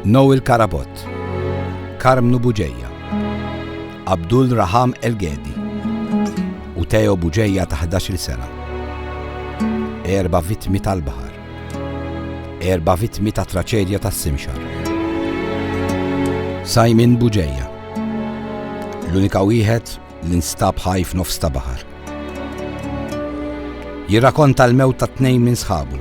Noel Karabot, Karmnu Buġeja, Abdul Raham Elgedi u Teo Buġeja ta' 11 sena. Erba vittmi tal-bahar. Erba vittmi ta' traċedja ta' simxar. Simon Buġeja. L-unika wieħed li nstab ħaj f'nofs ta' bahar. Jirrakonta l-mewt ta' tnejn minn sħabu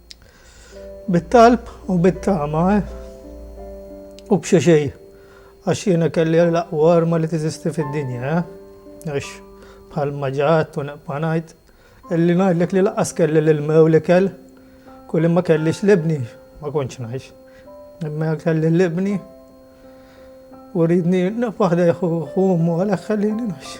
Bit-talb u bit-tama, eh? U b'xi xejn, għax jiena kelli l-aqwa arma li teżisti fid-dinja, eh? Għax, bħalma ġa għedt u neqpa' ngħid, illi ngħidlek li lanqas kelli l-ilma u l-ikel, kul li ma kellix l-Ibni, ma kontx ngħix. Imma jekk kelli l-Ibni, u rridni nibqa' ħdejh u hu għalhekk ħallieni ngħix.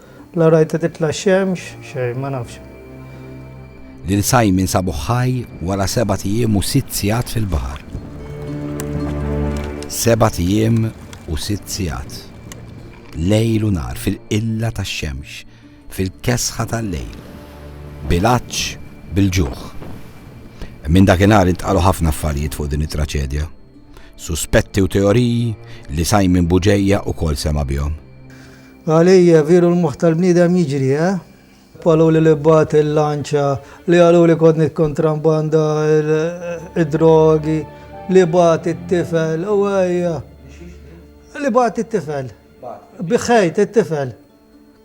La rajta titla' x-xemx, xejn, ma nafx. Lil Simon sabuh ħaj wara sebat ijiem u sitt sigħat fil-baħar. Sebat ijiem u sitt sigħat. Lejl u nhar fil-qilla tax-xemx, fil-kesħa tal-lejl. Bil-għatx, bil-ġuħ. Minn dakinhar intqalu ħafna affarijiet fuq din it-traċedja. Suspetti u teoriji li Simon Buġejja ukoll sema' bihom. Għalija, viru l-moħħ tal-bniedem jiġri, eh? Qalu li li bagħat il-lanċa, li qalu li kont nikkontrambanda d-drogi, li bagħat it-tifel, u ejja. Li bagħat it-tifel. Biħħejt it-tifel.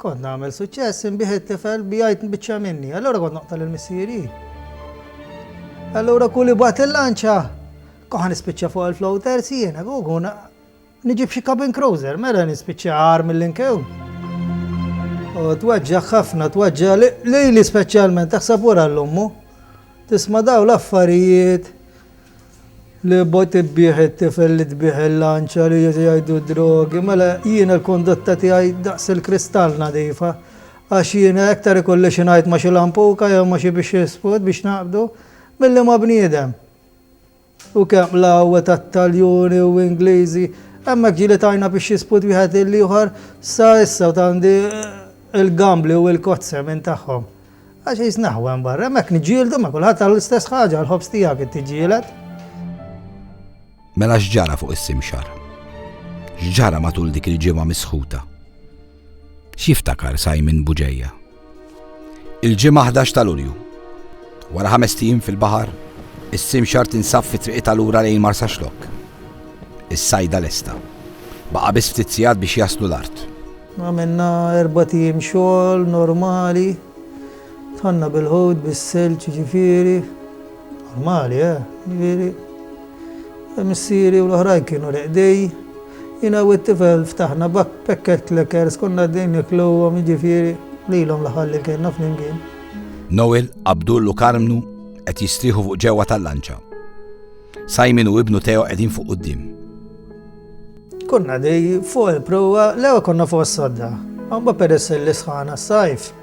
Kont nagħmel suċċess inbih it-tifel bijajt nbiċċa minni. Allura kont noqtal il-missieri. Allura kulli bat il-lanċa. Koħan nispiċċa fuq il-floater si jiena, għuna Niġib xi cabin cruiser, mela nispiċċa agħar mill-inkew. U twaġġaħ ħafna, twaġġaħ lili speċjalment, taħseb wara l-ommu. Tisma daw l-affarijiet li bot tibbieħ it-tifel li tbieħ il-lanċa li jgħidu drogi, mela jiena l-kondotta tiegħi daqs il-kristall nadifa. Għax jiena iktar ikolli xi ngħid ma' xi lampuka jew ma' xi biex jispod biex naqbdu, milli ma' bniedem. U kemm l-għawwe tat-Taljuni u Ingliżi! Hemmhekk ġieli tajna biex jisput wieħed lill-ieħor, sa issa u t'għandi il-gambli u il-kozze minn tagħhom. Għax qis naħwa hemm barra, hemmhekk niġġieldu ma' kulħadd għall-istess ħaġa, għall-ħobż tiegħek int tiġġieled. Mela x'ġara fuq is-Simxar? X'ġara matul dik il-ġimgħa misħuta? X'jiftakar Simon Buġeja? Il-Ġimgħa 11 ta' Lulju. Wara ħamest ijiem fil-baħar, is-simxar tinsab fi triqitha lura lejn Marsaxlokk. Is-sajda lesta. Baqa' biss ftit sigħat biex jaslu l-art. Għamilna erbat ijiem xogħol normali. Dħalna bil-ħut, bis-silġ jiġifieri. Normali, eh? Ġifieri, missieri u l-oħrajn kienu l-qdej, jiena u t-tifel ftaħna backpacket clickers, konna għaddejn nikluhom, jiġifieri, lilhom l-aħħar li kellna flimkien. Noel, Abdul u Karmnu qed jistrieħu fuq ġewwa tal-lanċa. Simon u ibnu Teo qegħdin fuq quddiem. Konna dej fuq il-prowa, l-ewwel konna fuq s-sodda. Għamba peress li sħana s-sajf,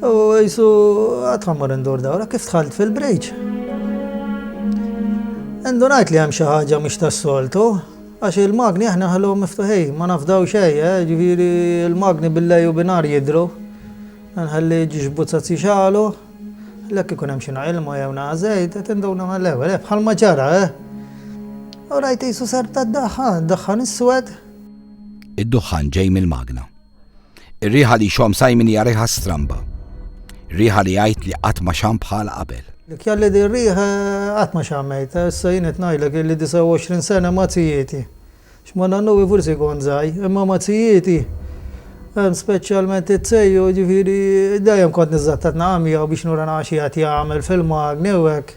U jisu għad ħammur indur dawra kif tħalt fil-breach. Indunajt li hemm xi ħaġa mhix tas-soltu, għax il-magni aħna nħalluhom miftuħin, ma nafdaw xejn, eh, ġifieri l-magni bil-lejl u bin-nhar jidhru. Nħalli ġiġbuzzat jixgħalu, l-hekk ikun hemm xi naq ilma jew naq żejt, qed induna mal-ewwel, eh, bħalma ġara, eh. U rajt qisu serb tad-daħħan, daħħan iswed. Id-duħħan ġej mill-magna. Ir-riħa li jxomm Simon hija riħa stramba. Riħa li jgħid li qatt ma xamm bħalha qabel. Dik jgħalli din riħa qatt ma xammejtha. Issa jien qed ngħidlek illi 29 sena ma' zijieti. X'ma nannuwi forsi kont żgħi, imma ma' zijieti, speċjalment iz-zejju, jiġifieri dejjem kont niżżattat naqgħa miegħu biex nura nara xi qed jagħmel fil-magni u hekk.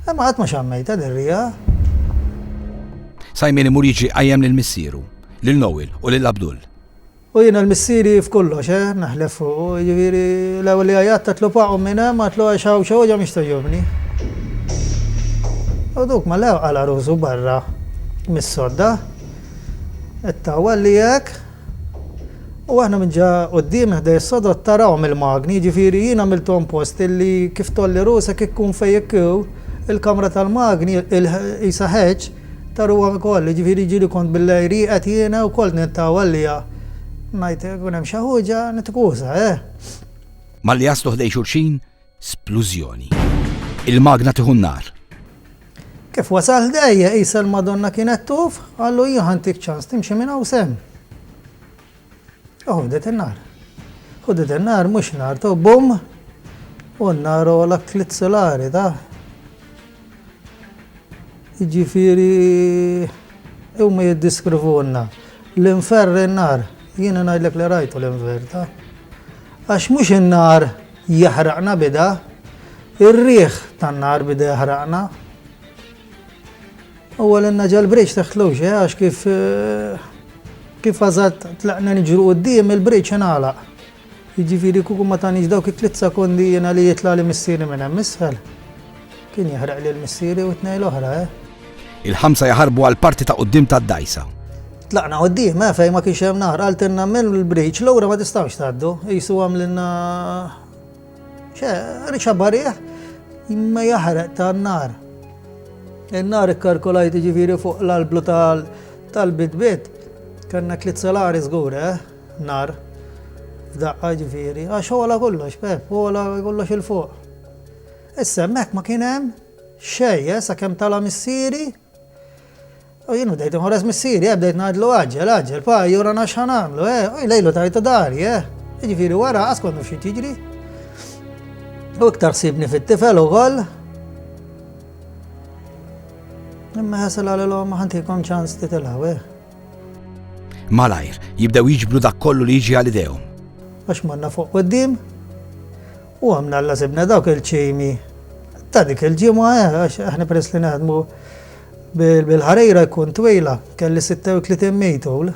Imma qatt ma xammejtha lir-rijaħ. Simon imur jiġri jqajjem lil missieru, lil Noel u lil Abdul. U jiena l-missieri f'kollox, eh, naħlef fuqu, jiġifieri l-ewwel li għajjatt għedtlu paqgħu minn hemm, għedtlu għax hawn xi wġgħa mhix togħġobni. U duk ma lewq għala ruħsu barra mis-sodda, it-tawwal li hekk. U aħna minn ġa quddiem ħdej is-sodod tarahom il-magni, jiġifieri jien għamilthom post illi kif tgħolli rusek ikkun fejn jekk hu l-kamra tal-magni qisha ħeġ taruhom ukoll, jiġifieri jiġieli kont billejl rieqed jiena wkoll nintaw għaliha. Ngħid ikun hemm xi ħuġa nitkusa, eh! Malli jaslu ħdej xulxin, Splużjoni. Il-magna tieħu n-nar. Kif wasal dejja qisha l-Madonna kienet tuf, qallu jien ħantik ċans timxi minn hawn sem. Ħudet in-nar. Ħudet in-nar mhux nar to bum u n-nar ola tliet solari ta' Jiġifieri huma jiddiskrivuna l-inferr in-nar. Jiena ngħidlek li rajtu l-inverta. Għax mhux in-nar Jaħraqna bida, ir-riħ tan-nar bida jaħraqna. U għalinna ġal-bridge taħt l-oċe, għax kif kif għazat tlaqna nġru qoddim il-bridge ingħalaq. Jiġifieri kuku ma tanix dawk it-tliet sekondi jiena li jitla' li missieri minn hemm isfel. Kien jeħraq lil missieri u t-tnejn l-oħra, eh? Il-ħamsa jaħarbu għall-parti ta' quddiem tad-dgħajsa. Tlaqna quddiem, eh, fejn ma kienx hemm naħar, qaltilna mill-briċ, lura ma tistgħux tgħaddu, qisu għamlilna xe, riċa barriħ, imma jaħraq ta' nar. Il-nar ikkarkolajt ġifiri fuq l-alblu tal-bit-bit, kanna tliet salari żgur, eh, nar, f'daqqa ġifiri, għax għola kollox, pep, għola kollox il-fuq. Issa hemmhekk ma kien hemm xejn, eh, sakemm tala' missieri u jien bdejt inħores missieri, eh, bdejt ngħidlu għaġġel, għaġġel, pa jurana x'ħa nagħmlu, eh, u jlejlu tajtu dari, eh. Jiġifieri wara qas konnu xi tiġri. U iktar sibni fit-tifel ukoll. Imma ħasel għalilhom ma ħantikom ċans titilgħu, eh. Malajr, jibdew jiġbru dak kollu li jiġi għal idejhom. Għax manna fuq qoddim, U għamna Alla sibna dawk il-ċimi ta' dik il-ġimgħa eh, għax aħna peress li naħdmu bil-ħarejra jkun twila, kelli 36 mejtul.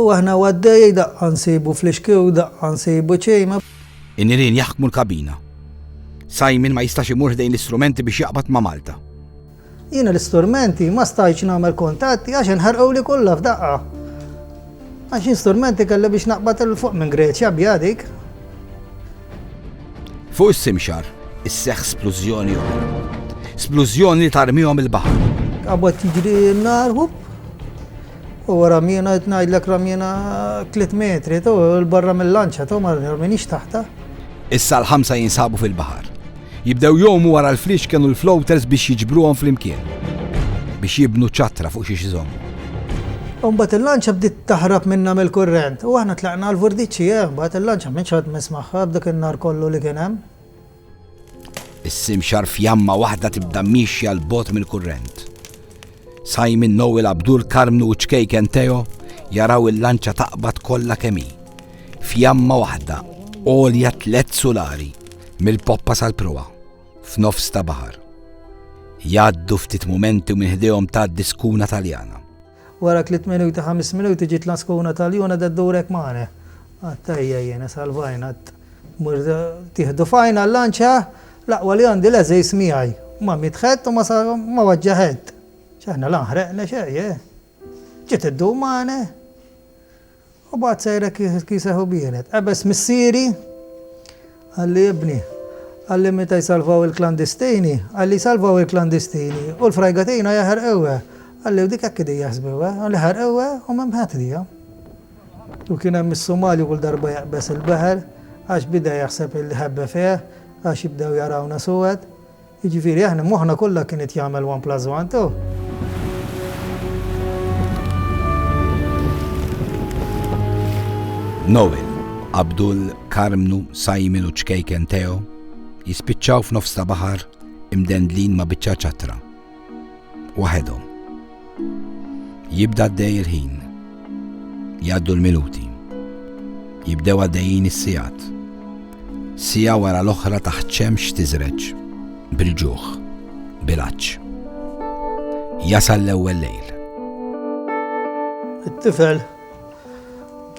U aħna għaddej daqqa nsibu fl-ixkiw, daqqa nsibu ċejma. In-nirien jaħkmu l-kabina. Simon ma jistax imur ħdejn l-istrumenti biex jaqbad ma' Malta. Jiena l-istrumenti ma stajtx nagħmel kuntatti għax inħarquli kollha f'daqqa. Għax jien strumenti kelli biex naqbad il fuq minn Greċja bja dik. Fuq is-simxar isseħħ splużjoni oħra. Splużjoni li tarmihom il-baħar. Qabad jiġri n-nar, Huwa ramjena qed ngħidlek ramjena tliet metri, tu 'l barra mil-lanċa, tu ma rminix taħtha. Issa l-ħamsa jinsabu fil-baħar. Jibdew jgħumu wara l-fliexken u l-floaters biex jiġbruhom flimkien. Biex jibnu ċattra fuq xiex iżommu. U mbagħad il-lanċa bdiet taħrab minna mill-kurrent u aħna tlaqna għall-vordiċi, eh, mbagħad il-lanċa m'intx għadt missmagħha b'dak in-nar kollu li kien hemm. Is-simxar fjamma waħda tibda miexja 'l bogħod mill-kurrent. Simon, Noel, Abdul, Karmnu u ċkejken Teo jaraw il-lanċa taqbad kollha kemm hi. Fjamma waħda għolja tliet sulari mill-poppa sal-proa f'nofs ta' baħar. Jgħaddu ftit mumenti u minn ħdejhom tgħaddi skuna Taljana. Wara tliet minuti, ħames minuti ġiet l-għaskuna tal-juna da ddurek magħna. Għadt tajja jiena, salvajna, għadt mur tieħdu fajn għall-lanċ ha, l-aqwa li għandi l-għeżież miegħi. Ma miet ħedd u ma waġġa' ħedd. X'aħna la nħreqna xejn, eh. Ġiet iddur magħna. U baqgħet sejra kiseh u bienet. Qebeż missieri, qalli ibni. Qalli meta jsalvaw il-klandistini, qalli jsalvaw il-klandistini u l-frajga tgħinha jaħerquha. Qalli u dik hekk qegħdin jaħsbuha, u li ħarquha u m'hemm ħadd lija. U kien hemm is-Somali kull darba jaqbeż il-baħar għax bida jaħseb li ħebba fih għax jibdew jarawna suwed. Jiġifieri aħna moħħna kollha kien qed jagħmel one plus one, tu! Noel, Abdul, Karmnu, Simon u ċkejken Teo jispiċċaw f'nofs ta' baħar imdendlin ma' biċċa ċatra. Waħedhom. Jibda għaddej il-ħin. Jgħaddu l-minuti. Jibdew għaddejjin is-sigħat. Siegħa wara l-oħra taħt xemx tiżreġ, bil-ġuħ, bil-għatx. Jasal l-ewwel lejl. It-tifel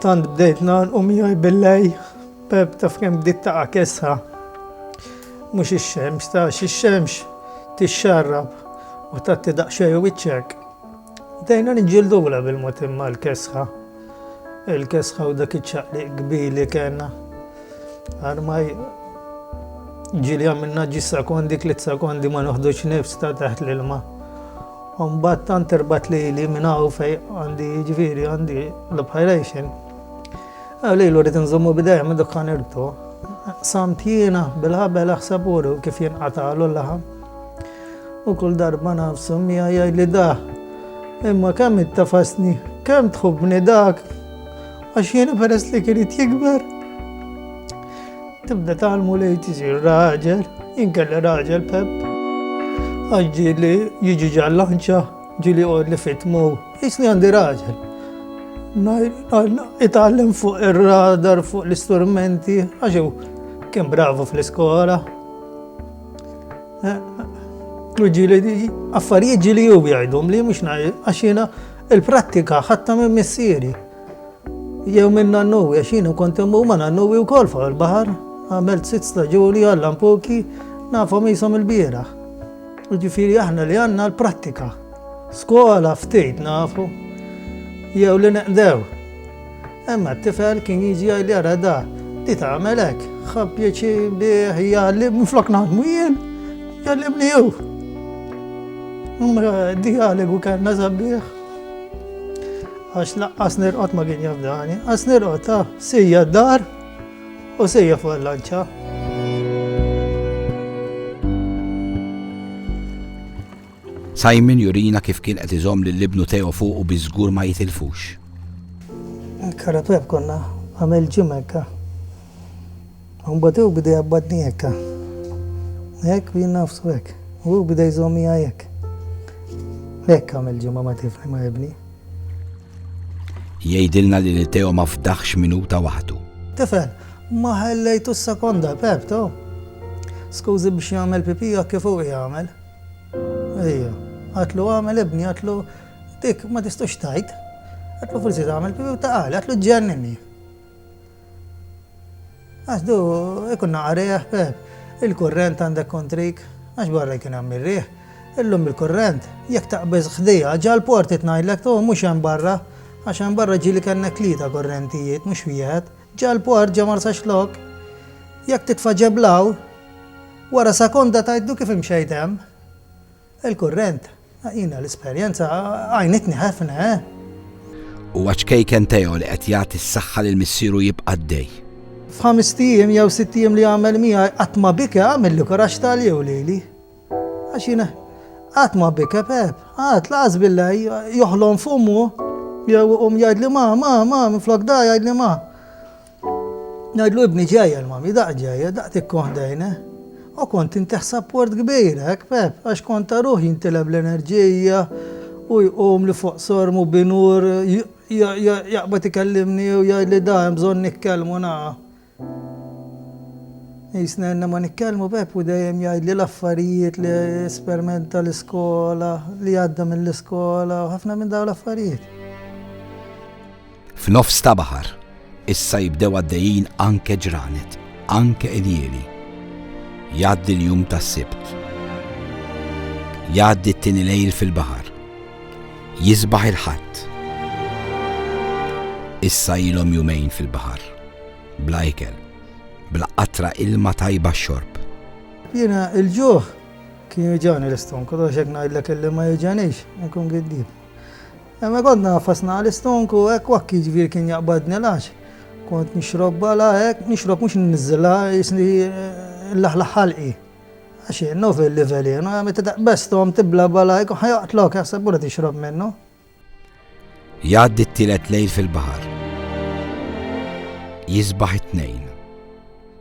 tant bdejt nagħlqu miegħi bil-lej Pep, taf kemm dik taqa' kesħa? Mhux ix-xemx, tax ix-xemx tixxarrab u tagħti daqsxejn wiċċek. Bdejna niġġildula bil-mod imma l-kesħa. Il-kesħa u dak iċ-ċaqliq kbir li kellna. Armaj ġili għamilna ġi sekondi, tliet sekondi ma noħdux nifs ta' taħt l-ilma. Umbat tant irbat li li minnaw fej għandi ġviri għandi l-obħajrejxin. Lilu rrid inżommu b'idejja minn dukkan irbtu. Qsamt jiena bil-ħabel aħseb uru kif jinqatagħlu l-laħam. U kull darba nafsu mija jgħidli dah. Imma kemm ittafasni, kemm tħobbni dak. Għax jiena peress li kien jikber. Tibda talmu li tisir raġel, inkella raġel pep. Għax ġieli jiġi ġallanċa Ġili għodli fitmu, jisni għandi raġel. Itgħallem fuq ir-radar, fuq l-istrumenti, għaxu kien bravu fl-iskola. Eh, ġili, affarijiet ġili ju jgħidhom li mhux għaxina il-prattika ħatta minn missieri. Jew minn nannu, għaxina kont immu ma nannu u kol fuq il-bahar, għamilt sitt staġuni għallam poki, nafhom jisom il-bieraħ. Jiġifieri aħna li għandna l-prattika. Skola ftit nafu jew li neqdew. Imma t-tifel kien jiġi għajli għara da, li tagħmel hekk, ħab pjaċi bih jgħallim minflok naħdmu jien, jgħallimni jew. Imma dialogu kellna sabiħ. Għax laqqas nirqot ma kien jafdani, għas nirqot ta' sija d-dar. U sejja fuq il-lanċa. Simon jurina kif kien qed iżomm lil ibnu Teo fuqu biex żgur ma jitilfux. Il-karapè konna għamel ġim hekk. Imbagħad hu bidej jabbadni hekk. Hekk u jien nafsu hekk. U hu bidej jżommija hekk. Hekk għamel ġimgħa ma tifli ma ibni. Jgħidilna li lil Teo ma fdaħx minuta waħdu. Tifel, ma ħellejtux sekonda, Pep, to. Skużi biex jagħmel pipì hekk kif hu jagħmel. Ejja, għatlu għamel ibni, għatlu dik ma tistux tajt. Għatlu forsi tagħmel pipì u taqali, għatlu ġennini. Għax du jkun naqa' riħ, Pepp. Il-kurrent għandek kontrik, għax barra jkun hemm ir-riħ. Illum il-kurrent, jekk taqbeż ħdejha, ġall-portiet ngħidlek, tu, mhux hemm barra, għax hemm barra ġieli kellna tlieta kurrentijiet, mhux wieħed. Ġall-port, ġo Marsaxlokk, jekk titfa' ġeblaw, wara sekonda tgħidlu kif imxejt hemm. Il-kurrent, jiena l-esperjenza għajnitni ħefna, eh! Huwa ċkejken Teo li qed jagħti s-saħħa lil missieru jibqa' għaddej. F'ħamest ijiem jew sitt ijiem li għamel miegħi qatt ma bike għamilli kuraġġ ta' jew lili. Għax jiena qatt ma bike Pep, qatt laqas bilha joħlom f'ommu jew iqum jgħidli ma, ma, ma, minflok da jgħidli ma. Ngħidlu ibni ġajja l-mami, daqq ġajja, daqq tikkoħ dejne. O kont intiħ sapport kbir, hekk Pep, għax kont aruh jintileb l-enerġija u jqum li fuq sorm u binur jaqbad ikellimni u jgħidli da hemm bżonn nikkellmu na. Qisna ilna ma nikkellmu Pep u dejjem jgħidli l-affarijiet li espermenta l-iskola, li għadda mill-iskola u ħafna minn dawn l-affarijiet. F'nofs ta' baħar, issa jibdew għaddejjin anke ġranet, anke iljieli. Jgħaddi l-jum tas-Sibt. Jgħaddi t-tieni lejl fil-baħar. Jisbaħ il-Ħadd. Issa ilhom jumejn fil-baħar, bla ikel, bla qatra ilma tajba x-xorb. Jiena l-ġuħ kien jiġani l-istonku, għax jekk ngħidlek illi ma jiġanix, inkun giddib. Hemmhekk kont ngħafas nagħqal is-stonk u hekk u hekk jiġifieri kien jaqbadni l-għax kont nixrob bala hekk, nixrob mhux inniżżilha qisni nlaħlaħ ħalqi. Għax hi naf il-livelin, meta taqbeż stonk tibla' bala jkun ħa joqtlok jaħseb hu li tixrob minnu. Jgħaddi t-tielet lejl fil-baħar. Jisbaħ it-Tnejn.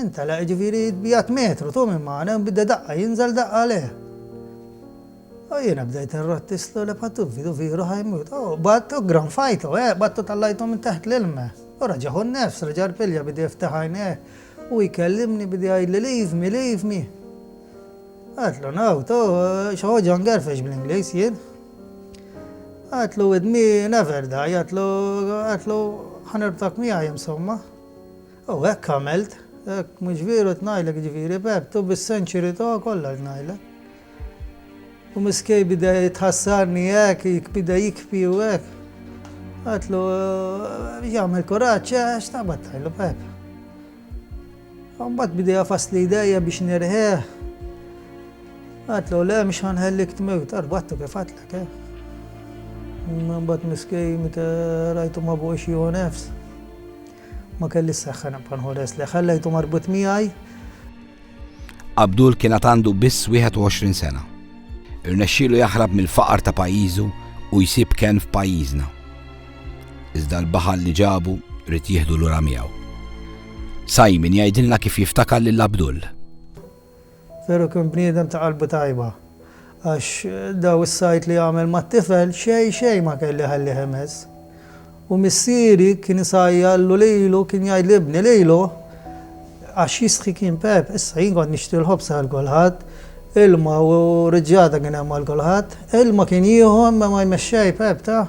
Intela' jiġifieri jitbiegħed metru, tu minn magħna, u bda daqqa jinżel daqqa lejh. U jiena bdejt inrotti slu le patu vidu vieru ħajmut. U qbadt u ggranfajtu, eh, qbadt u tallajtu minn teħt l-ilma. U reġahu n-nefs, reġa' rpilja bida jiftaħ għajnejh u jkellimni bida jgħidli leave me, leave me. Għedtlu no, tu xi ħoġa ngerfex bl-Ingliż jien. Għedtlu with me never die, għedtlu, għedtlu ħa nirbtak miegħi insomma. U hekk għamilt. Hekk, mhux vieru qed ngħidlek, jiġifieri Pepp, u bis-senċuri tiegħu kollha qed ngħidlek. U miskej beda jitħassarni hekk, beda jikbi u hekk. Għedtlu, biex jagħmel kuraġġ, għax taqbad tgħidlu Pepp. U mbagħad beda jafasli jdejja biex nirħieh. Għedtlu, le mhux ħanħellik tmewt, arbattu kif għedtlek, eh. Mbagħad miskej meta rajtu ma bogħox jieħu nefs. Ma kellix seħħa nibqa' nħoles lejh, ħallejtu marbut miegħi. Abdul kien għad għandu biss 21 sena. Irnexxielu jaħrab mill-faqar ta' pajjiżu u jsib kenn f'pajjiżna. Iżda l-baħal li ġabu rrid jieħdu lura miegħu. Simon jgħidilna kif jiftakar lil Abdul. Veru kien bniedem ta' qalbu tajba, għax daw is-sajd li għamel mat-tifel xejn xejn ma kelli iħallih imess. U missieri kien isajjarlu lilu, kien jgħid l-ibni lilu, għax jistħi kien Pepp, issa jien kont nixtri l-ħobż għal kulħadd, ilma u riġġata kien hemm għal kulħadd. Ilma kien jieħu imma ma jmexxej Pepp, ta?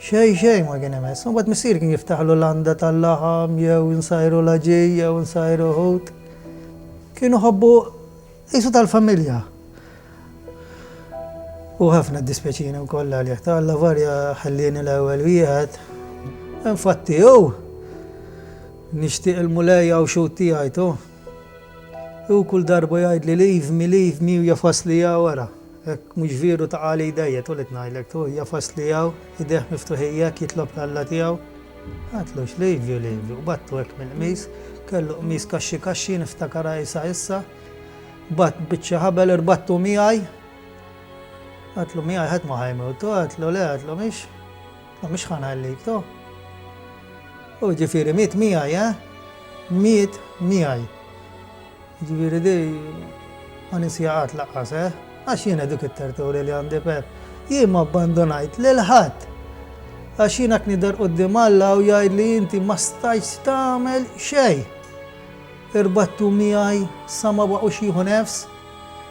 Xejn xejn ma kien imess. Mbagħad missieri kien jiftaħlu landa tal-laħam jew insajru l-għaġin jew insajru ħut. Kienu ħobbu qisu tal-familja. U ħafna dispjaċini wkoll għalih ta' Alla varja ħallieni l-ewwel wieħed. Infatti hu nixtieq il-mulej hawn xut tiegħi tu. Hu kull darba jgħidli leave me, leave me u jafasli wara. Hekk mhux vieru taqa' li jdejjaq tu li tnailek tu hija fost li hawn idejh miftuħin jekk jitlob l-Alla tiegħu Għadtlu x'livju livju qbadtu hekk mill-qmis kellu qmis kaxxi kaxxi niftakar għajsa issa Qbadt biċċa ħabel irbattu miegħi Għadtlu miegħi ħadd ma ħajmut tu għadtlu le għadtlu mhix ma mhix ħa ngħallik tu U ġifieri miet miegħi eh miet miegħi. Jiġifieri di ma nisjiha qatt laqqas, eh! Għax jiena dik it-tertoli li għandi Pepp, jien m'abbandunajt lil ħadd! Għax jiena knider quddiem Alla u jgħidli inti ma stajtx tagħmel xejn! Irbattu miegħi sa ma baqgħux jieħu nefs!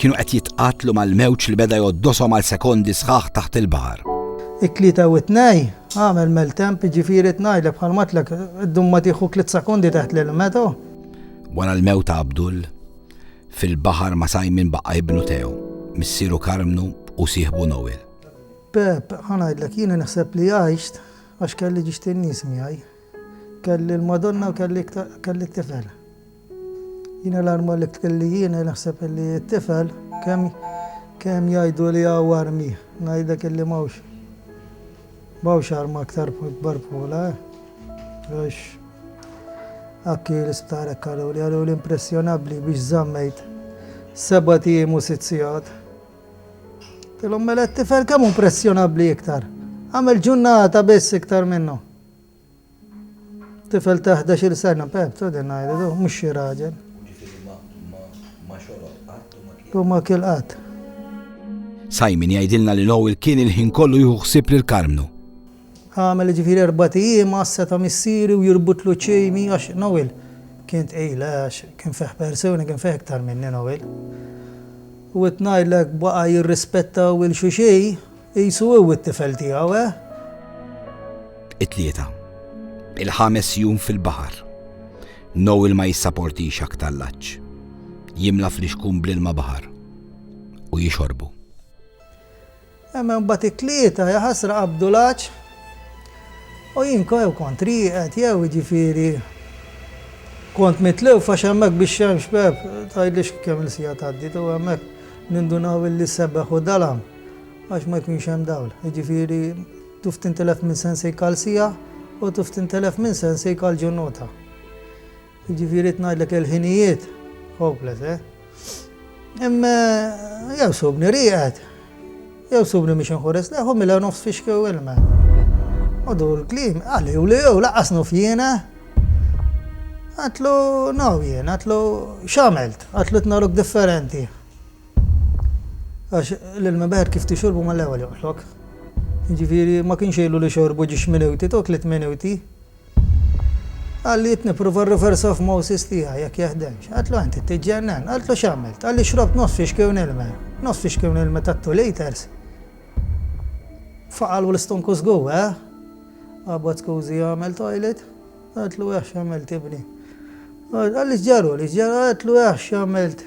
Kienu qed jitqattlu mal-mewġ li beda jgħoddoshom għal sekondi sħaħ taħt il-baħar. It-tlieta u t-tnej, agħmel maltemp, jiġifieri tnajdlek bħal matlek ddum ma tieħu tliet sekondi taħt l-ilmeto. Wara l-mewt ta' Abdul, fil-baħar ma' Simon baqa' ibnu Teo, missieru Karmnu u sieħbu Noel. Pep, ħanajdlek jiena naħseb li għajxt għax kelli ġiġt in-nies miegħi. Kelli l-Madonna u kelli t-tifel. Jiena l-arma li tkelli jiena naħseb illi t-tifel kemm kemm jgħidu li hawn armi ngħidlek illi m'hawnx m'hawnx arma aktar kbar bħolha għax akki l-isptar hekk qaluli qaluli impressjonabbli biex żammejt sebat ijiem u sitt sigħat. Tilhom mela t-tifel kemm hu impressjonabbli iktar. Għamel ġunnata biss iktar minnu. Tifel ta' ħdax-il sena, b'hekk ta' din ngħidu, du, mhux xi raġel. U ġifieri ma, ma, ma xorob qatt u ma kiel. U ma kiel qatt. Simon jgħidilna li Noel kien il-ħin kollu jieħu ħsieb lil Karmnu. Għamel jiġifieri erbat ijiem għassa ta' missieri u jirbutlu ċ-ċejni għax Noel kien tqil, eh, għax kien fih persuni, kien fih iktar minni Noel. U rrid ngħidlek baqa' jirrispettaw 'il xuxi. Qisu hu t-tifel tiegħu, eh? It-Tlieta. Il-ħames jum fil-baħar. Noel ma jissaportix aktar l-għatx. Jimla flixkun bl-ilma baħar u jixorbu. Imma mbagħad it-tlieta jaħasra qabdu l-għatx u jien jew kont rieqed jew jiġifieri kont mitlew fax hemmhekk biex hemm xbeb tgħidlix kemm il-sija tgħaddi tu hemmhekk nindunaw illi sebeħ u dalam. għax ma jkunx hemm dawl. Jiġifieri tuf tintilef minn sensik għal siegħa u tuf tintilef minn sensik għal ġurnota. Jiġifieri qed ngħidlek il-ħinijiet hopeless, eh? Imma jew subni rieqed, jew subni biex inħures leħ u mila nofs fixkew ilma. U dur l-kliem, għalli u li jew laqas nuf jiena. Għatlu, no jiena, għatlu, x'għamilt? Għatlu tnaruk differenti. Għax l-ilma beħet kif tixorbu mal-ewwel joqtlok. Jiġifieri ma kienx ilu li xorbu ġiex minuti, dawk tliet minuti. Qal li nipprova r-reverse osmosis tiegħi jekk jeħdemx. Qaltlu int tiġġennen, qaltlu x'għamilt? Qal li xrobt nofs fixkiewn ilma. Nofs fixkiewn ilma ta' two litres. Faqal u l-istonku żgur, eh? Qabad skużi jagħmel toilet. Qaltlu eh x'għamilt ibni. Qal li x'ġaruli, x'ġara, qaltlu eh x'għamilt.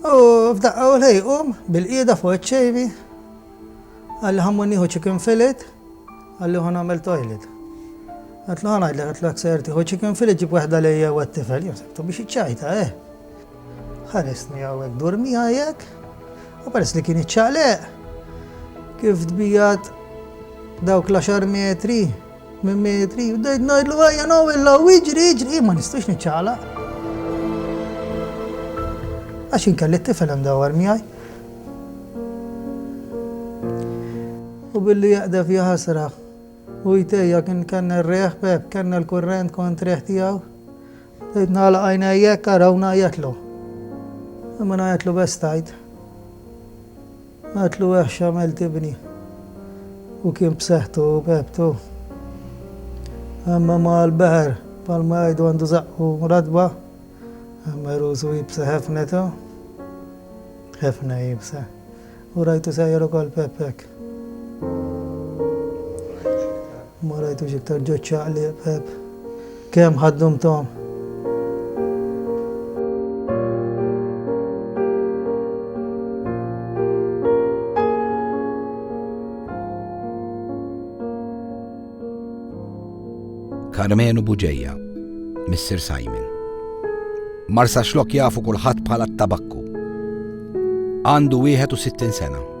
U f'daqqa u lej qum bil-qiegħda fuq iċ-ċejbi, qalli ħammur nieħu chicken fillet, qalli ħu nagħmel toilet. Għatlu ħana għidlek, għatlu għak ser tiħu chicken fillet ġib waħda lejja u għattifel, jimsektu biex iċċajta, eh. Ħarisni għawek durmi għajek, u peress li kien iċċaqleq, kif dbijat dawk l-10 metri Minn metri, bdejt ngħidlu ejja naw il-law iġri iġri, jien ma nistax niċċaqlaq. Għax jien kelli t-tifel imdawwar miegħi. U billi jaqdef jaħasra u jtejja kien kellna r-reħ pep, kellna l-kurrent kont reħ tiegħu. Bdejt nagħlaq għajnejjek araw ngħajjatlu. Imma ngħajjatlu bestajt. Għedtlu weħ x'għamilt ibni u kien b'seħħtu u b'hebtu. Imma ma l-beħer bħalma jgħidu għandu żaqq u ratba, imma rusu iebsa ħefnetu, ħefna iebsa, u rajtu sejjer ukoll Peppek. Ma rajtux iktar ġo ċ-ċaqliq Pepp. Kemm ħaddumthom? Karmenu Buġeja, Mr. Simon. Marsa xlok jafu kulħadd bħala t-tabakku. Għandu 61 sena.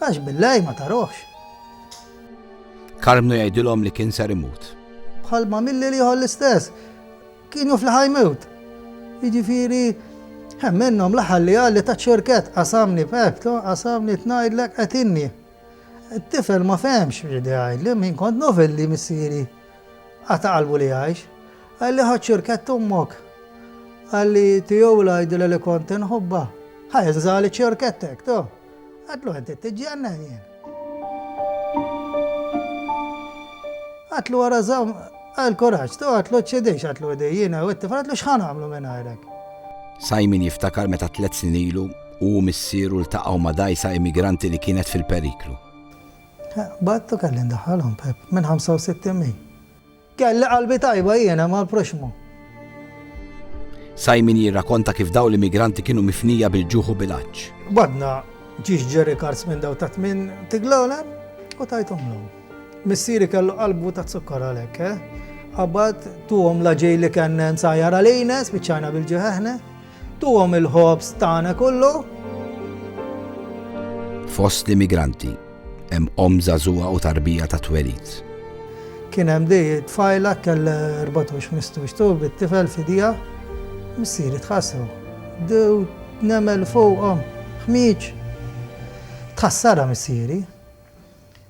Għax bil-lei ma tarohx. Karmnu jgħidilhom li kien ser imut. Bħal ma milli l-ieħor l-istess. Kien jaf li ħajmut. Jiġifieri, hemm minnhom l-aħħar li qal li ta' ċurkett qasamni b'hekk, qasamni tnajdlek qetinni. It-tifel ma fehmx x'ried jgħidli, min kont nofel li missieri qata' qalbu li jgħix. Qal li ħadd ċurkett ommok. Qal li tiegħu l-għajdilha li kont inħobbha. Ħa jinżagħli ċurkettek, to. Għatlu qed tittiġġi għandna jien. Għatlu wara żamm għall-kuraġġ, tu għatlu ċċedix għatlu idej jiena u t-tifel għatlu x'ħa nagħmlu mingħajrek. Simon jiftakar meta tliet snin ilu hu u missieru ltaqgħu ma' dgħajsa immigranti li kienet fil-periklu. Bagħadtu kelli ndaħħalhom, Pep, minn 65 mil. Kelli qalbi tajba jiena mal-proxxmu. Simon jirrakonta kif dawn l-immigranti kienu mifnija bil-ġuħ u bil-għatx. Qbadna ġiex Jerry Cards minn dawn ta' tmien tiglowlem u tajthomlhom. Missieri kellu qalbu ta' zukkor għalhekk, eh? Qabad tuhom l-aġil li kien nsajjar għalina, spiċċajna bil-ġuħ aħna. Tuhom il-ħobż tagħna kollu. Fost l-immigranti hemm omm żagħżugħa u tarbija ta' twelid. Kien hemm di tfajla kell 14 mistux tu bit-tifel fidija missieri tħassew. Dew nemel fuqhom ħmieġ tħassara missieri.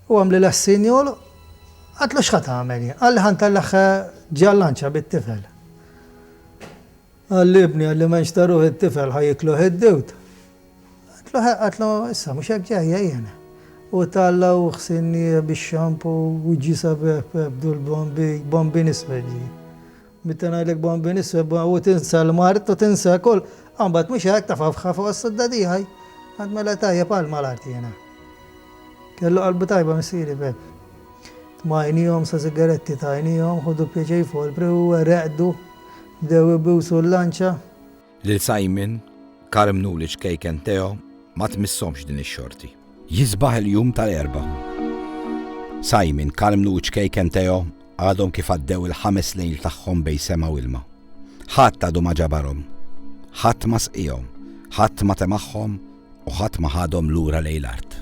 U għamli l-assin jol għatlu xħat għameli, għalli ħan tal-laħħa ġallanċa bit-tifel. Għall-ibni, għalli ma nxtaruh it-tifel, ħa jikluh id-diwt. Għatlu ħe, għatlu issa, mhux hekk ġejja jien. U ta l-lawh sinnieh bix-xampu u ġie sabieh pebdu l-bombi, bombin iswed ġie. Meta ngħidlek bombin iswed, u tinsa l-mard u tinsa kull, imbagħad mhux hekk tafa' f'ħa fuq is-sudda tiegħi. Għad mela tajjeb għal ma l-art jiena. Kellu qalbu tajba missieri Pep. Tmajnihom sa sigaretti tajnihom, ħudu pjaċir folpri u reqdu. Bdew ibusu l-lanċa. Lil Simon, Carmen u l-iċkejken Theo ma tmisshomx din ix-xorti. Jisbaħ il-jum tal-Erbgħa. Simon, Carmen u ċkejken Theo għadhom kif għaddew il-ħames lejl tagħhom bejn sema u ilma. Ħadd għadu ma ġabarhom. Ħadd ma sqiehom. Ħadd ma temagħhom U ħadd ma ħadhom lura lejn l-art.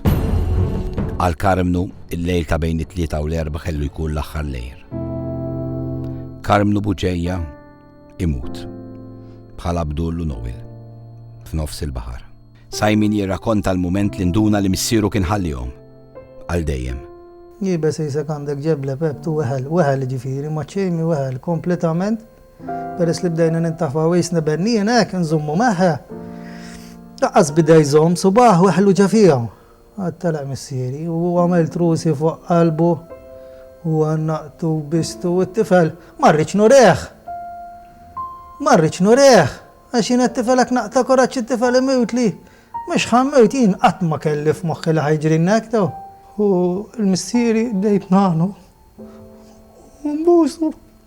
Għal Karmnu, il-lejl ta' bejn it-Tlieta u l-Erbgħa kellu jkun l-aħħar lejl. Karmnu Buġeja imut bħal Abdul u Noel f'nofs il-baħar. Simon jirrakonta l-mument li nduna li missieru kien ħallihom għal dejjem. Jibes isek għandek ġeble pep tu weħel, weħel ġifiri, maċċejmi weħel kompletament Peress li bdejna nintafaw qisna bennien hekk inżommu magħha. Laqqas bida jżomm subaħ weħlu ġa fija. Għad telaq missieri u hu għamel trusi fuq qalbu u għannaqtu u bistu u t-tifel ma rridx nurih. Ma rridx nurih għax jien għat-tifel hekk naqta' kuraġġ it-tifel imewtli. Mhux ħa mmewt jien qatt ma kelli f'moħħi li ħa jiġrilna hekk daw. U l-missieri bdejt ngħanu u nbusu.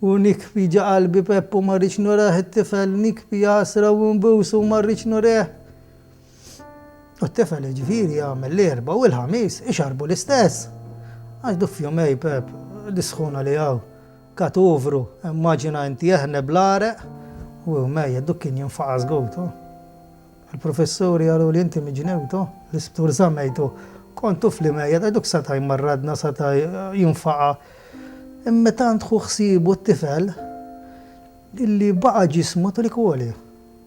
U nikbi ġa qalbi Peppu ma rridx nurah it-tifel nikbi għasra u nbusu ma rridx nureh. U t-tifel jiġifieri jagħmel l-Erbgħa u l-Ħamis ixarrbu l-istess. Għax du f'jumej Pepp, dis-sħuna li hawn, katuvru, immaġina inti jeħneb l-għaraq u mejjet du kien jinfaqas gotu. Il-professuri qaluli inti mi Ġnewto, l-isptur żammejtu, kont tuf li mejjet għax duk seta' jmarradna seta' jinfaqa'. Imma meta għand ħu ħsiebu t-tifel illi baqa' ġismu trid għoli.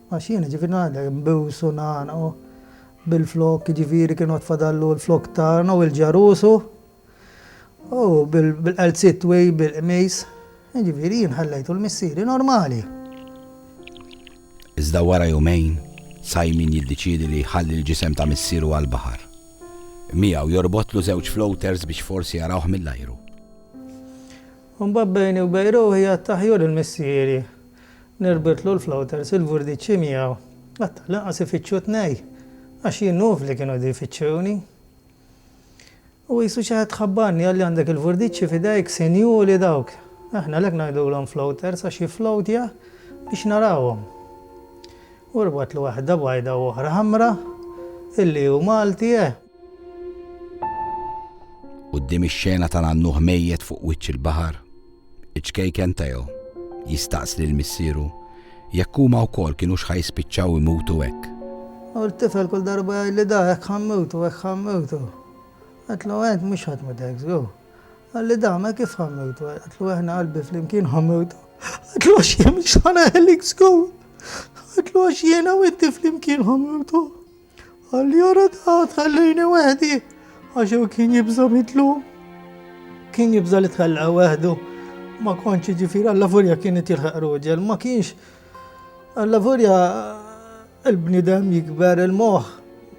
Għax jien jiġifieri ngħidlek nbiws u ngħannaq u bil-flokk jiġifieri kien għad fadallu l-flokk tagħna u l-ġarus u. U bil-qalziet twil, bil-qmis, jiġifieri jien ħallejtu l-missieri normali. Iżda wara jumejn, Simon jiddeċiedi li jħalli l-ġisem ta' missieru għall-baħar. Miegħu jorbotlu żewġ floaters biex forsi jarawh mill-ajru. U mbagħad bejni u bejn ruħi għadt aħjur il-missieri nirbitlu l-floaters il-vurdiċċi miegħu. Qatt tal-inqas ifittxu t-tnejn, għax jien nuf li kienu qegħdin ifittxuni. Hu qisu xi ħadd ħabbarni, qal li għandek il-furdiċċi f'idejk sinjuri dawk. Aħna għalhekk ngħidulhom floaters għax jifflowtja biex narawhom. U rbatlu waħda bajda u oħra ħamra, illi hu Malti, eh! Quddiem ix-xena tal-għannuħ mejjet fuq wiċċ il-baħar, Iċ-ċkejken Theo jistaqsi lil missieru jekk huma wkoll kinux ħa jispiċċaw imutu hekk. U t-tifel kull darba jgħidli da, hekk ħa mmutu, hekk ħa mmutu. Għedtlu int mhux ħa tmut hekk żgur. Qalli da, mela kif ħa mmutu? Għedtlu aħna qalbi flimkien ħa mmutu. Għedtlu għax jien mhux ħa neħlik żgur. Għedtlu għax jiena u inti flimkien ħa mmutu. Allura ta' tħallini wahdi, għax u kien jibża mitlu. Kien jibża li tħalla wahdu. Ma konċi ġifir, għalla furja kien jtilħaq ruġel, ma kienx. Għalla furja il-bnidem jikber il-moħ.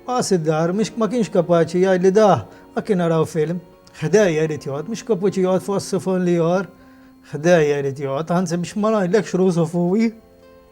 Għas id-dar, ma kienx kapaċi jgħid li da, ma kien għaraw film. Ħdejja jrid jgħod, mux kapaċi jgħod fuq s-sifon li jgħor. Ħdejja jrid jgħod, għanzi biex ma najdlek xrużu fuwi.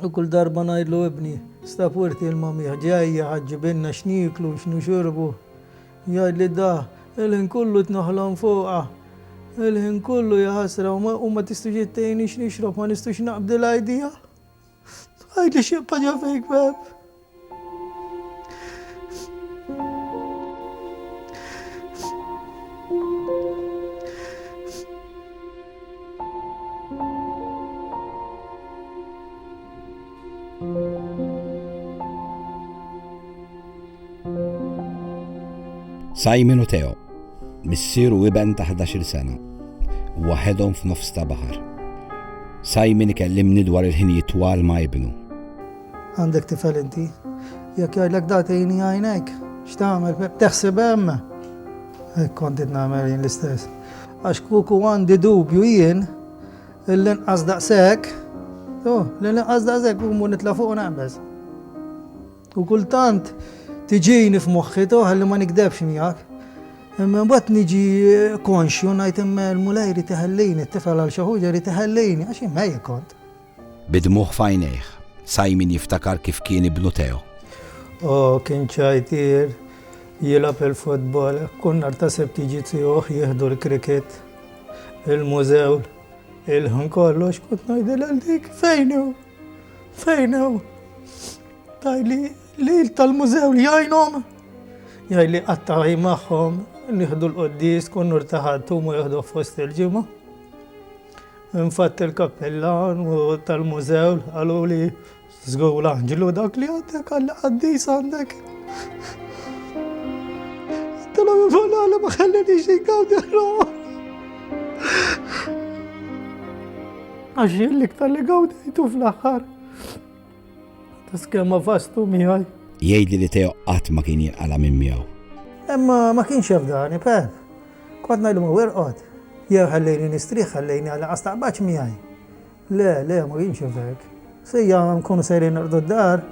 U kull darba ngħidlu ibni stab wirt il mamih ġejja ħa ġġibilna x'nieklu u x'nixorbu, jgħidli da, il-ħin kollu qed noħlom fuqha, il-ħin kollu jaħasra u ma tistux ittejni x'nixrob, ma nistux naqbdi l-idea? Għidli x'jibqa' ġo fik Pep? Simon u Teo, missier u iben ta' 11 sena, waħedhom f'nofs ta' baħar. Simon ikellimni dwar il-ħinijiet twal ma' ibnu. Għandek tifel inti? Jekk jgħidlek da tgħini għajnejk, x'tagħmel? Teħseb hemm? Hekk kont qed nagħmel jien l-istess. Għax kuku għandi dubju jien l-inqas daqshekk, oh, l-inqas daqshekk u nitla' fuq naqbeż. U kultant tiġini f'moħħi toħal li ma nikdebx miegħek. Imma mbagħad niġi eh, konxju ngħid imma l-mulej rid iħellini, t-tifel għal xi ħuġa rid iħellini, għax imma kont. Bi dmugħ f'għajnejh, Simon jiftakar kif kien ibnu Theo. O, kien ċajtier, jilgħab il-futbol, kull nhar ta' Sibt jiġi tiegħuh jieħdu l-krikit, il-mużew, il-ħin kollu x'kont ngħidil għal dik fejn hu? Fejn hu? Tajli li tal-mużew li jgħinhom, jgħidli qatta'j magħhom, nieħdu l-qoddis, kun nur taħadtu ma jieħdu fost il-ġimgħa. Infatt il-kappillan u tal-mużew qaluli żgur l-anġlu dak li għandek għall qaddis għandek. Għattilhom il-banana ma ħallinix ingawdi r-roħ. Għax jien l-iktar li gawdejtu fl-aħħar. Tiskemm ma' fastu miegħi. Jgħidli li Teo qatt ma kien jinqala' minn miegħu. Imma ma kienx jafdani, Pep. Kont ngħidlu ma' werqod. Jew ħallejni nistrieħ, ħallejni għal inqas taqbadx miegħi. Le, le, ma kienx hekk. Sejja nkunu sejrin norqdu d-dar.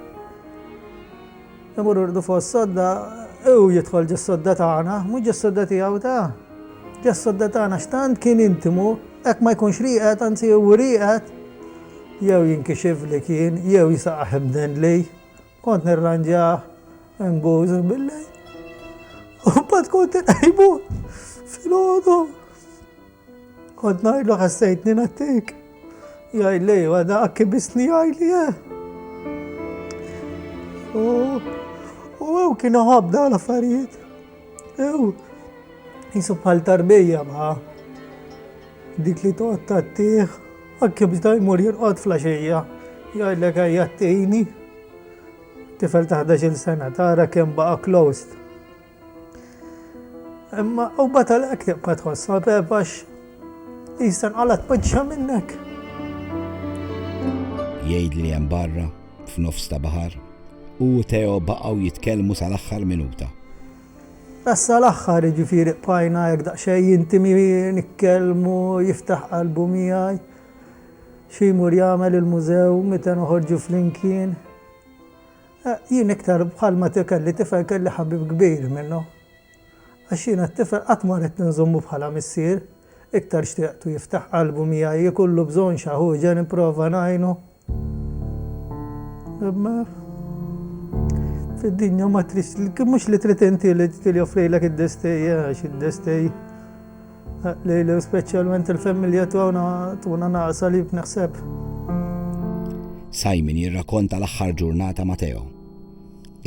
Imur irdu fuq is-sodda, hu jidħol ġis-sodda tagħna, mhux ġis-sodda tiegħu ta'. Ġa s-sodda tagħna għax tant kien intimu, hekk ma jkunx rieqed, anzi hu rieqed, jew jinkixifli kien, jew jisaqgħah imdendli, kont nirranġah inguż bil-lejl, u mbagħad kont inqejmu filgħodu. Kont ngħidlu ħassejtni nattik. Jgħid li jwa da akkibisni jgħid li eh. U ew kienu ħabda l-affarijiet. Ew, jisu bħal tarbija ma. Dik li toqgħod tattih, akkibis da jmur jirqod flaxija. Jgħidlek ejja t-tini. Tifel ta' 11 sena tara kemm baqa' closed. Imma u batal ek tibqa tħoss ma bebax jistan għala tpoġġa minnek. Jgħid li hemm barra f'nofs ta' baħar u Teo baqgħu jitkellmu sal-aħħar minuta. Issa l-aħħar ġifieri qbajna jekk daqsxejn jintimi nitkellmu jiftaħ qalbu miegħi. Xi jmur jagħmel il-mużew meta noħorġu flimkien. Jien iktar bħal ma kelli tifel kelli ħabib kbir minnu. Għax jiena t-tifel qatt ma ridt inżommu bħala missier, iktar xtieqtu jiftaħ qalbu miegħi, ikollu bżonn xa ħuġa nipprova ngħinu. Imma fid-dinja ma tridx, mhux li trid inti li joffrilek id-destej, għax id-destej. Lili u speċjalment il-familja tagħna tuna naqsa li b'neħseb. Simon jirrakonta l-aħħar ġurnata ma' Teo.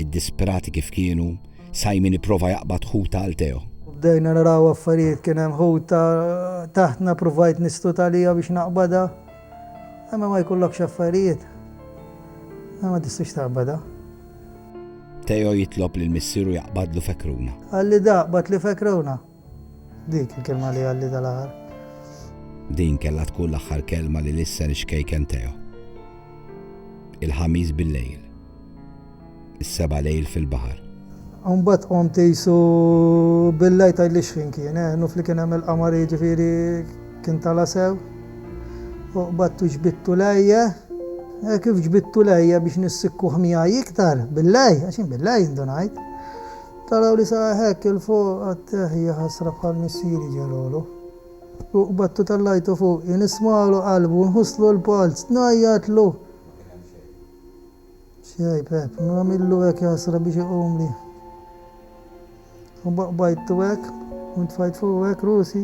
Id-disperati kif kienu, Simon ipprova jaqbad ħuta għal Teo. Bdejna naraw affarijiet kien hemm ħuta taħtna provajt nistut għalija biex naqbada. Imma ma jkollokx affarijiet. Ma tistux taqbada. Teo jitlob li l-missieru jaqbadlu fekruna. Għalli daqbad li fekruna. Dik il-kelma li għalli dal-aħħar. Din kellha tkun l-aħħar kelma li lissen ix-xkejken Theo. Il-Ħamis bil-lejl. Is-seba' lejl fil-baħar. U mbagħad qomt qisu bil-lejl tgħidlix fin kien, eh, nuf li kien hemm il-qamar jiġifieri kien tala' sew. U qbadtu ġbidtu lejje, eh, kif ġbidtu lejje biex nissikkuh miegħi iktar bil-lejl, għax jien bil-lejl indunajt. Taraw li saqaq hekk 'il fuq għat-teh jaħasra bħal missieri ġelgħolu. U qbadtu tellajtu fuqi, nismagħlu qalbu, nħusslu l-polz, ngħajjatlu! X'jgħid Pepp, nagħmillu hekk jaħasra biex iqumli. U baqbajttu hekk, u ntfajt fuqu hekk rusi.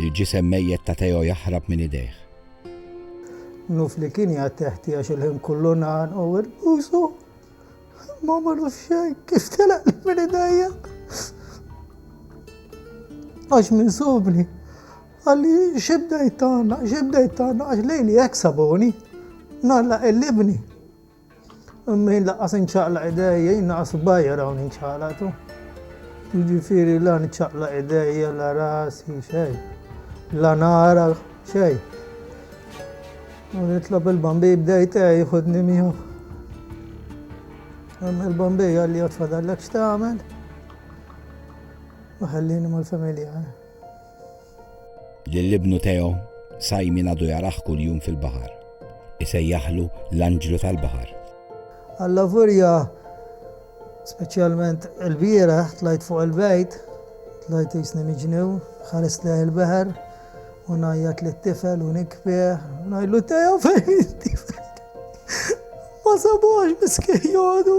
Il-ġisem mejjet ta' Teo jaħrab minn idejh. Nuf li kien jgħatteħti għax il-ħin kollu ngħanqu u nbusu. Imma ma naf xejn kif telaqli minn idejja. Għax minn sobni. Għalli xibdejt tagħna, xibdejt tagħna għax lejli hekk sabuni. Nalla il-libni. Imma laqqas inċaqlaq idejja, jien naqas bajjar hawn inċaqlaqtu. Jiġifieri la niċċaqlaq idejja, la rasi, xejn. La nara, xejn. U nitlob il-bambi bdejt eh, jħodni miegħu. Hemm il-bambi għalli jgħod fadallek x'tagħmel. U ħallini mal-familja. Eh. Lil ibnu Teo, Simon għadu jarah kuljum fil-baħar. Isejjaħlu l-anġlu tal-baħar. Allavolja speċjalment ilbieraħ tlajt fuq il-bejt, tlajt jisni miġnew, ħarist lejh il-beħer u ngħajjat lit-tifel u nikbeh, ngħidlu Teo fejn it-tifel. Ma sabux miskin jodu.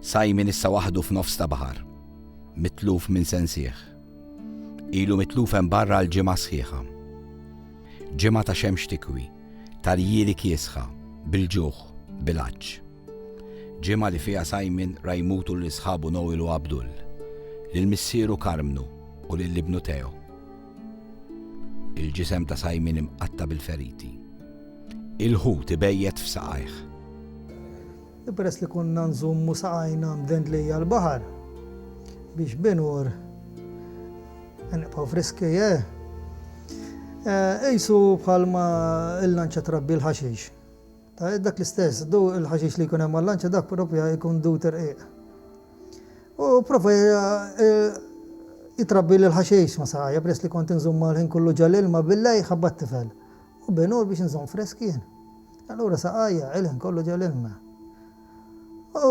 Simon issa waħdu f'nofs ta' baħar, mitluf minn sensieh. Ilu mitluf hemm barra għal ġimgħa sħiħa. Ġimgħa ta' xemx tikwi, ta' rjieli kiesħa, bil-ġuħ, bil-għatx. Ġimgħa li fiha Simon ra jmutu lil sħabu Noel u Abdul, lil missieru Karmnu u lil ibnu Theo. Il-ġisem ta' Simon imqatta' bil-feriti. Il-ħut ibejjet f'saqajh. U peress li konna nżommu saqajna mdend lejn l-baħar, biex binur nibqgħu friski, eh? Qisu bħalma l-lanċa trabbi l-ħaxix. Dak l-istess, il-ħaxix li jkun hemm għal-lanċa dak propja jkun dut irqiq. U pprova jitrabbili l-ħaxix ma' saqajja peress li kont inżummha l-ħin kollu ġo l-ilma bil-lejl ħabba t-tifel. U binur biex inżomm fresk jien. Allura saqajja il-ħin kollu ġo l-ilma. U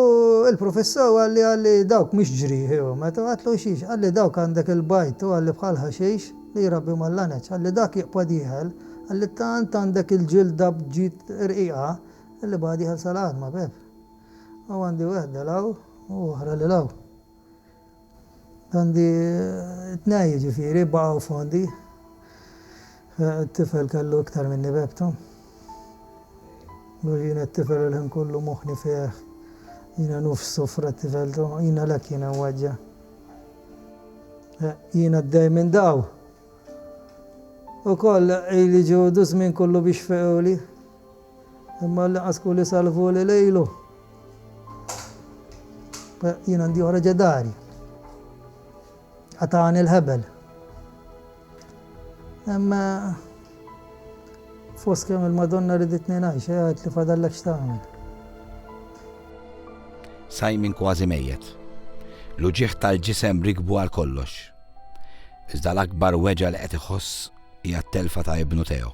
l-Professur qalli qalli dawk mhux ġrieħi u meta għatlu xiex qalli dawk għandek il-bajd u qalli bħal ħaxix li jrabbi mal-laneċ qalli dak jiqpa' dieħel qalli tant għandek il-ġilda bġid rqiqa li baqa' dieħel sal-għadma beb. Hawn għandi wehda 'l hawn u oħra lil hawn. Għandi tnej jiġifieri baqgħu fondi. It-tifel kellu iktar minni b'ebtu. Għax jiena t-tifel il-ħin kollu moħħni fih. Jiena nofs sofra t-tifel tu. Jiena l-hekk jiena mweġġa'. Jiena d-dej minn daw. Ukoll ili ġudu żmien kollu biex fequli. Imma l-inqas kuli salvu li lejlu. Jien għandi oħra ġedari. Għatani l-ħebel. Imma fost kemm il-Madonna riditni ngħix, għad li fadallek x'tagħmel. Sajmin kważi mejjet. L-uġieħ tal-ġisem rikbu għal kollox. Iżda l-akbar weġa li qed iħoss hija t-telfa ta' ibnu Teo.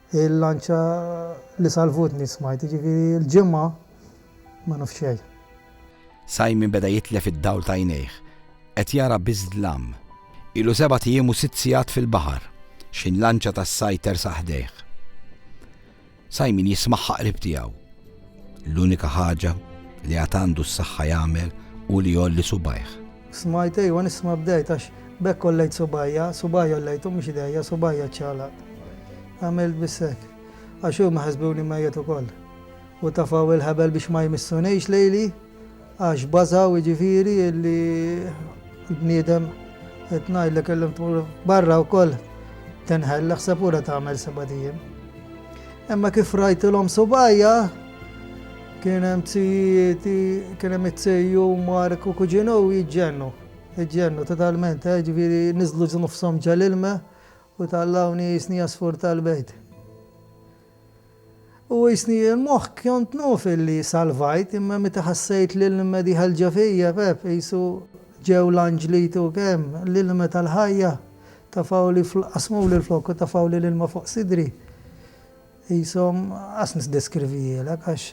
Il-lanċa li salvutni smajt, jiġifieri l-Ġimgħa ma nafx xejn. Simon beda jitlef id-dawl t'għajnejh. Qed jara biss dlam. Ilu sebat ijiem u sitt sigħat fil-baħar. Xi lanċa tas-sajd tersaq ħdejh. Simon jismagħha qrib tiegħu. L-unika ħaġa li għad għandu s-saħħa jagħmel hu li jgħolli subgħajh. Smajt, ejwa nisma' bdejt għax b'hekk għollejt subgħajja, subgħajja għollejthom mhux idejja, subgħajja ċċaqlaqt. Għamilt biss hekk. Għax huma ħasbuni mejjet ukoll. U tafgħu il-ħebel biex ma jmissunix lejli għax bażgħu jiġifieri li l-bniedem qed ngħidlek kellhom tmur barra wkoll tinħell aħseb ura tagħmel sebat ijiem. Imma kif rajtilhom subgħajja, Kien hemm zijieti, kien hemm it-zejju Mark u kuġina u jġennu. Jġennu totalment, eh, ġifieri niżlu nofshom ġal-ilma u tallawni jisni għasfur tal-bejt. U jisni l-moħħ kont naf illi salvajt imma meta ħassejt li l-ilma dieħel ġo fija, pep, qisu ġew l-anġli jtuk hemm, l-ilma tal-ħajja, tafgħuli, qasmuli l-flokk u tafgħuli l-ilma fuq sidri. Qishom qas niddeskrivihielek għax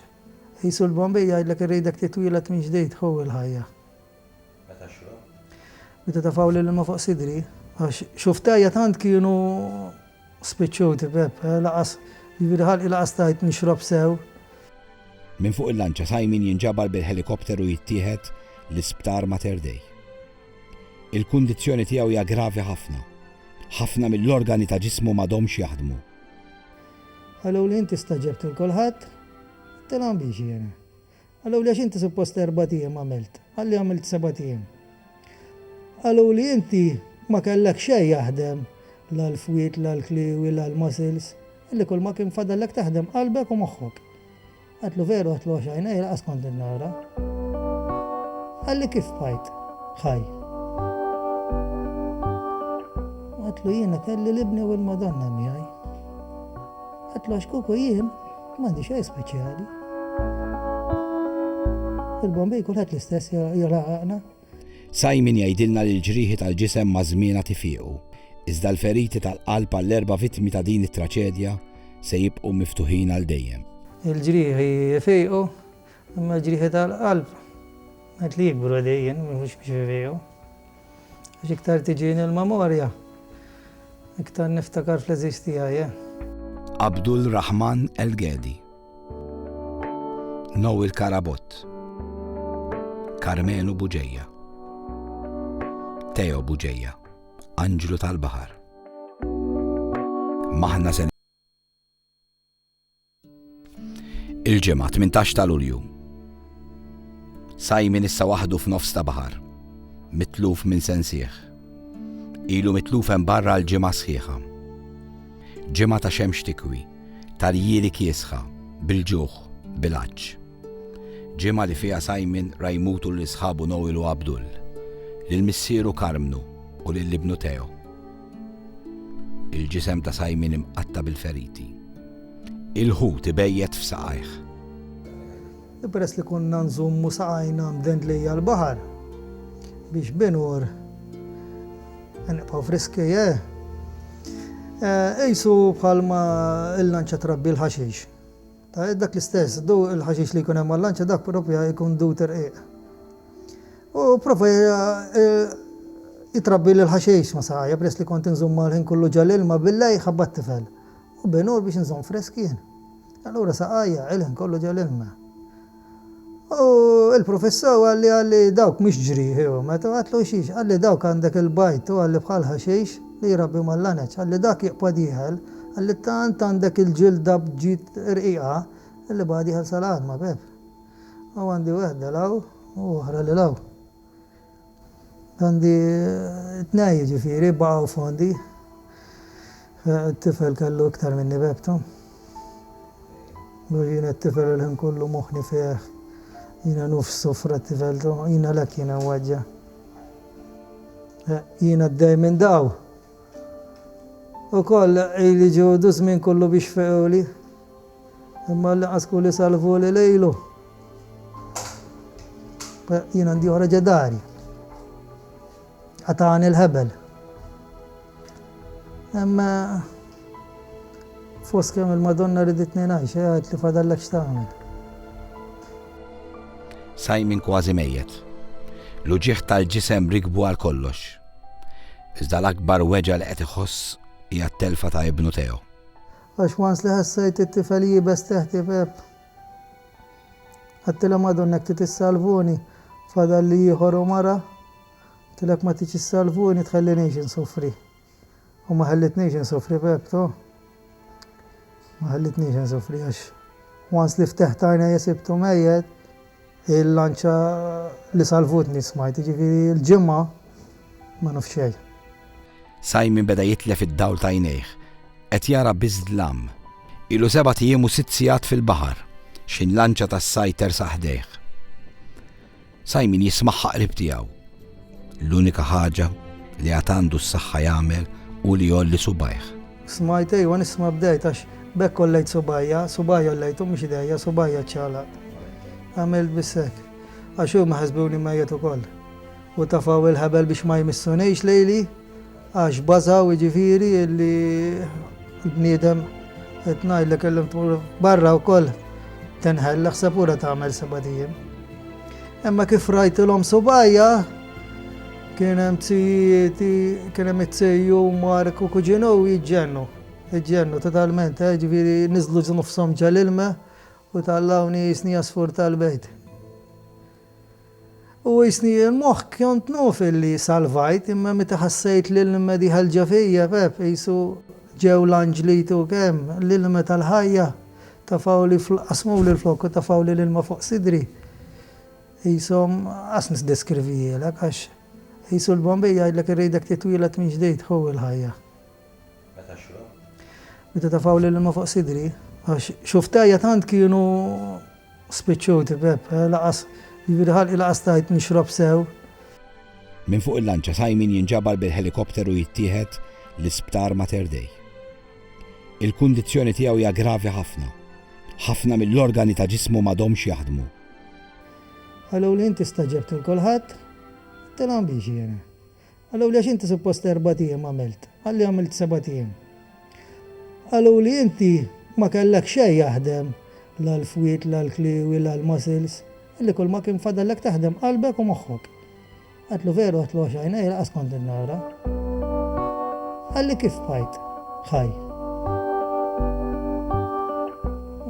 qisu l-Bombay jgħidlek irridek titwieled minn ġdid ħu l-ħajja. Meta xrobt? Meta tafgħu l-ilma fuq sidri. Għax xuftajja tant kienu spiċċuti Pepp, lanqas, jiġifieri ħalqi lanqas stajt nixrob sew. Minn fuq il-lanċa Simon jinġabar bil-ħelikopteru jittieħed l-Isptar Mater Dei. Il-kundizzjoni tiegħu hija gravi ħafna. Ħafna mill-organi ta' ġismu m'għadhomx jaħdmu. Qaluli inti stagħġibt lil kulħadd. Għedtilhom biexi jiena. Qaluli għax inti suppost erbat ijiem għamilt. Qalli għamilt sebat ijiem. Qaluli inti ma kellek xejn jaħdem la l-fwied la l-kliewi la l-muscles. Qalli kulma kien fadallek taħdem qalbek u moħħok. Għedtlu veru għedtlu għax għajnejja laqas kont qed nara. Qalli kif bqajt ħaj. Għedtlu jiena kelli l-Ibni u l-Madonna miegħi. Għedtlu għax kieku jien m'għandi xejn speċjali. Il-Bombej kulħadd l-istess jolaqaqna. Simon jgħidilna li l-ġrieħi tal-ġisem maż-żmien għad ifiqu, iżda l-feriti tal-qalb għall-erba' vittmi ta' din it-traċedja se jibqgħu miftuħin għal dejjem. Il-ġrieħi jfiqu, imma l-ġrieħi tal-qalb qed li jikbru għadejjin, mhux biex ifiqu. Għax iktar tiġini l-memorja, iktar niftakar fl-għeżież tiegħi. Abdul Rahman El Gedi, Noel Karabott, Karmenu Buġeja, Teo Buġeja, Anġlu tal-Baħar. Maħna sen Il-ġimgħa 18 ta' Lulju. Sajmin issa waħdu f'nofs ta' baħar, mitluf minn sensieħ. Ilu mitluf hemm barra l-ġimgħa sħiħa. Ġimgħa ta' xemx tikwi Tarjieri kiesħa, bil-ġuħ, bil-għatx. Ġimgħa li fiha Simon ra jmutu lil sħabu Noel u Abdul, lil missieru Karmnu u lil ibnu Theo. Il-ġisem ta' Simon imqatta' bil-feriti. Il-ħut ibejjet f'saqajh. Peress li konna nżommu saqajna mdendlija għall-baħar biex binur nibqgħu friski, eh? Qisu bħalma l-lanċa trabbi l-ħaxix. Ta' dak l-istess, du l-ħaxix li jkun hemm għal-lanċa dak propja jkun du terqiq. U prova jitrabbi l-ħaxix ma saqajja peress li kont nżomma l-ħin kollu ġal-ilma billej ħabbat tifel. U binur biex nżomm friski jien. Allura saqajja għilien kollu ġo l-ilma. U l-prufissa u għalli għalli dawk mhux ġrieħi u met u għatlu xiex għalli dawk għandek il-bajd u għalli bħal ħaxix li jrabbi mal-laneċ għalli dak jiqpa dieħel għalli tant għandek il-ġilda bġid rqiqa illi baqa dieħel sal-għadma beb. U għandi wehda l-hawn u oħra lil hawn. Għandi tnej jiġifieri baqgħu fondi. It-tifel kellu iktar minni bebtu. Mhux jiena t-tifel il-ħin kollu moħħni fih. Jiena nofs sofra t-tifeltu. Jiena l-hekk jiena mweġġa'. Jiena d-dej minn daw. Ukoll ili ġudu żmien kullu biex fequli, imma l-inqas kuli salvuli lejlu. Jien għandi oħra ġedari. Qatani l-ħebel. Imma fost kemm il-Madonna riditni ngħix, għedt li fadallek x'tagħmel. Simon kważi mejjet. L-uġigħ tal-ġisem rikbu għal kollox. Iżda l-akbar weġgħa li qed iħoss hija t-telfa ta' ibnu Theo. Għax once li ħassejt it-tifel iebes teħt ibeb. Għedtilhom għadhom hekk trid issalvuni, fadalli ieħor u mara. Għedtilek ma tridx issalvuni tħellinix insoffri. U ma ħellitnix insofri Pepto. Ma ħellitnix insofri għax once li fteħt għajnejja sibtu mejjet, il-lanċa li salvutni smajt, jiġifieri l-ġimgħa ma nafx xejn. Simon beda jitlef id-dawl t'għajnejh. Qed jara biss dlam. Ilu sebat ijiem u sitt sigħat fil-baħar. X'inlanċa tas-sajd tersa' ħdejh. Simon jismagħha qrib tiegħu. L-unika ħaġa li għad għandu s-saħħa jagħmel hu li jgħolli subgħajh. Smajt ejwa nisma' bdejt għax b'hekk għollejt subgħajja, subgħajja għollejthom mhux idejja, subgħajja ċċalaqt. Għamilt biss hekk. Għax huma ħasbuni mejjet ukoll. U tafgħu l-ħebel biex ma jmissunix lejli. Għax bażaw jiġifieri li l-bniedem qed ngħidlek illum tmur barra wkoll tinħel l-ħseb ura tagħmel sebat ijiem. Imma kif rajtilhom subgħajja kien hemm tzijieti, kien hemm it-tziju Mark u kuġinu jiġġennu. Iġġennu totalment, eh, ġifieri niżlu ġnufshom ġal-ilma u tallawni jisni għasfur tal-bejt. U qisni l-moħħ kont nuf illi salvajt, imma meta ħassejt l-ilma diħelġa fija, pep, qisu ġew l-anġli jtuk hemm, l-ilma tal-ħajja, tafgħuli fl, qasmuli l-flokk u tafgħuli l-ilma fuq sidri. Qishom, qas nisdeskrivihielek għax, qisu l-Bombay jgħidlek irridek titwieled mill-ġdid, hu l-ħajja. Meta xrobt? Meta tafgħu l-ilma fuq sidri. Għax xuftejja tant kienu spiċċuti Pepp, laqas, jiġifieri ħalqi laqas stajt nixrob sew. Minn fuq il-lanċa Simon jinġabar bil-ħelikopter u jittieħed l-isptar Mater Dei. Il-kundizzjoni tiegħu hija gravi ħafna. Ħafna mill-organi ta' ġismu m'għadhomx jaħdmu. Qaluli inti staġebt lil kulħadd? Tilhom biex jiena. Qaluli għax inti suppost erbat ijiem għamilt, qalli għamilt sebat ijiem. Qaluli inti ma kellek xejn jaħdem la l-fwied la l-kliewi la l-muscles, qalli kull ma kien fadallek taħdem qalbek u moħħok. Għedtlu veru għedtlu għax għajnejja laqas kont qed nara. Qalli kif bqajt ħaj.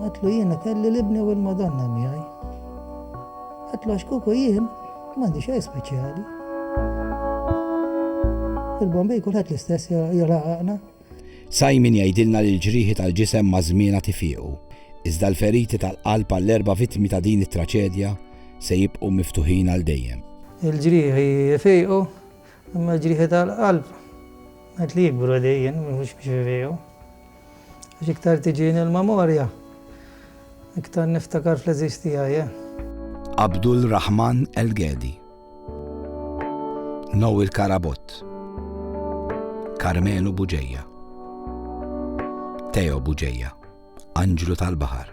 Għedtlu jiena kelli l-Ibni u l-Madonna miegħi. Għedtlu għax kieku jien, M'għandi xejn speċjali. Il-Bombay kulħadd l-istess jolaqaqna. Sajn min jgħidilna li l-ġrieħi tal-ġisem maż-żmien għad ifiequ, iżda l-feriti tal-qalb għall-erba' vittmi ta' din it-traċedja se jibqgħu miftuħin għal dejjem. Il-ġrieħi jfiequ, imma l-ġrieħi tal-qalb qed jikbru dejjem mhux biex ifiequ. Għax iktar tiġini l-memorja, iktar niftakar fl-għeżież tiegħi, eh. Abdul Rahman El Ghedi. Noel Karabott. Karmenu Buġeja. Teo Buġeja. Anġlu tal-Baħar.